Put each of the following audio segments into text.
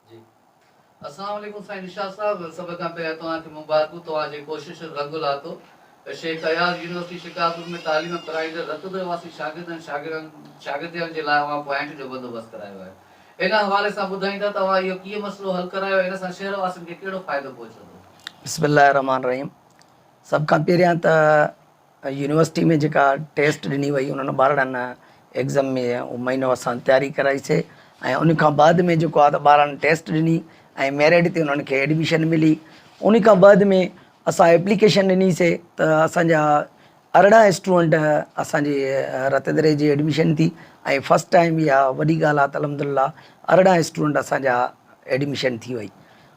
جي اسلام عليڪم سائين نشاط صاحب سڀ کان پهريان توهان کي مبارڪون توهان جي ڪوششن رنگ لاتو شيخ اياز يونيورسٽي شڪارپور ۾ تعليم پرائيندڙ رتبي واسي شاگردن شاگرن شاگردياڻين جي لاء اوهان پوائنٽ جو بندوبست ڪرايو آهي ان حوالي سان ٻڌائيندا ته اوهان اهو ڪيئن مسئلو حل ڪرايو ۽ ان سان شهر واسين کي ڪهڙو فائدو پهچندو بسم الله الرحمن الرحيم سڀ کان پهريان ته يونيورسٽي ۾ جيڪا ٽيسٽ ڏني وئي انهن ٻارڙن نه ايگزم ۾ اهو مهينو اسان تياري ڪرائي سي ۽ ان کان بعد ۾ جيڪو آ ته ٻارڙن ٽيسٽ ڏني ۽ ميرٽ تي انهن کي ايڊميشن ملي ان کان بعد ۾ اسان ايپليڪيشن ڏني سي ته اسان جا ارڙهن اسٽوڊنٽ اسان جي رت دري جي ايڊميشن ٿي ۽ فرسٽ ٽائيم اها وڏي ڳالهه آ ته الحمدلله ارڙهن اسٽوڊنٽ اسان جا ايڊميشن ٿي وئي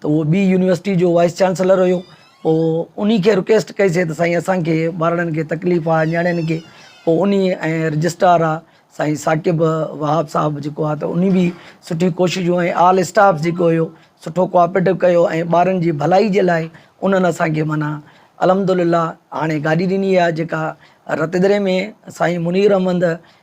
ته اهو ٻي يونيورسٽي جو وائيس چانسلر هيو پوء انهي کي رڪويسٽ ڪئي سي ته سائين اسان کي ٻارڙن کي تڪليف آ نياڻين کي پوء انهي ۽ رجسٽرار آ سائين ثاقب وهاب صاحب جيڪو آ ته انهي به سٺي ڪوششون ۽ آل اسٽاف جيڪو هيو سٺو ڪوآپريٽو ڪيو ۽ ٻارن جي ڀلائي جي لاء انهن اسان کي معنيٰ الحمدلله هاڻي گاڏي ڏني آ جيڪا رتيدري ۾ سائين منير احمد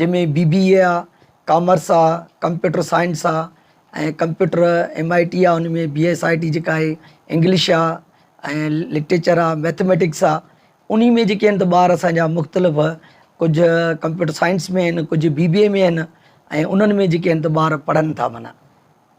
جنهن ۾ بي بي اي آ، ڪامرس آ، ڪمپيوٽر سائنس آ ۽ ڪمپيوٽر ايم آء ٽي آ ان ۾ بي ايس آء ٽي جيڪا آهي انگلش آ ۽ لٽريچر آ ميٿميٽڪس آ انهي ۾ جيڪي آهن ته ٻار اسان جا مختلف ڪجهه ڪمپيوٽر سائنس ۾ آهن ڪجهه بي بي اي ۾ آهن ۽ انهن ۾ جيڪي آهن ته ٻار پڙهن ٿا معنيٰ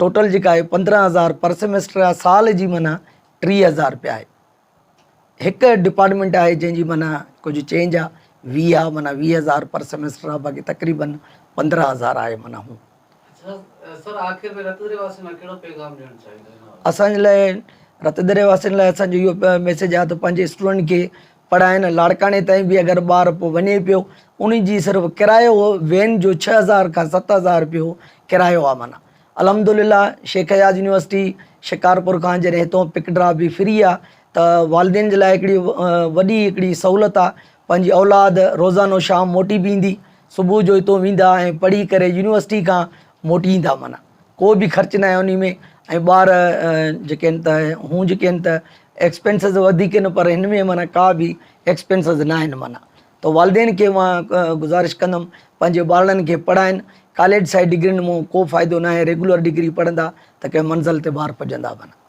ٽوٽل جيڪا آهي پندرهن هزار پر سيمسٽر آهي سال جي معنيٰ ٽيهه هزار رپيا آهي هڪ ڊپارٽمينٽ آهي جنهن جي معنيٰ ڪجهه چينج آهي ويهه آهي معنيٰ ويهه هزار پر سيمسٽر آهي باقي تقريبن پندرهن هزار آهي معنيٰ هو اسان جي لاء رتدري واسين لاء اسانجو اهو ميسيج آهي ته پنهنجي اسٽوڊنٽ کي پڙهائين لاڙڪاڻي تائين به اگر ٻار پوء وڃي پيو ان جي صرف ڪرايو هو وين جو ڇهه هزار کان ست هزار رپيو ڪرايو آ معنيٰ الحمدلله شيخ اياز يونيورسٽي شڪارپور کان جڏهن هتئون پڪ ڊراپ به فري آ ته والدين جي لاء هڪڙي وڏي هڪڙي سهولت آ پنهنجي اولاد روزانو شام موٽي به ايندي صبح جو هتئون ويندا ۽ پڙهي ڪري يونيورسٽي کان موٽي ايندا معنيٰ ڪو به خرچ ناهي انهي ۾ ۽ ٻار جيڪي آهن ته هون جيڪي آهن ته ايڪسپينسز وڌيڪ آهن پر هن ۾ معنيٰ ڪا به ايڪسپينسز ناهن معنيٰ ته والدين کي مان گذارش ڪندم پنهنجي ٻارڙن کي پڙهائن ڪاليج سائيڊ ڊگرين مون ڪو فائدو ناهي ريگولر ڊگري پڙهندا ته ڪنهن منزل تي ٻار پڄندا معنيٰ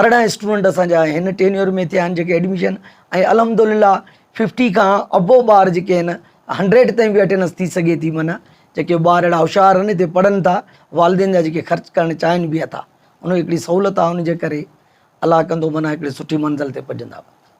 ارڙهن اسٽوڊنٽ اسان جا هن ٽينيور ۾ ٿيا آهن جيڪي ايڊميشن ۽ الحمدلله ففٽي کان ابو ٻار جيڪي آهن هنڊريڊ تائين بي اٽينس ٿي سگهي ٿي معنيٰ جيڪي ٻار اهڙا هوشيار آهن هتي پڙهن ٿا والدين جا جيڪي خرچ ڪرڻ چاهين بي اٿا ان هڪڙي سهولت آهي ان جي ڪري الله ڪندو معنيٰ هڪڙي سٺي منزل تي پڄندا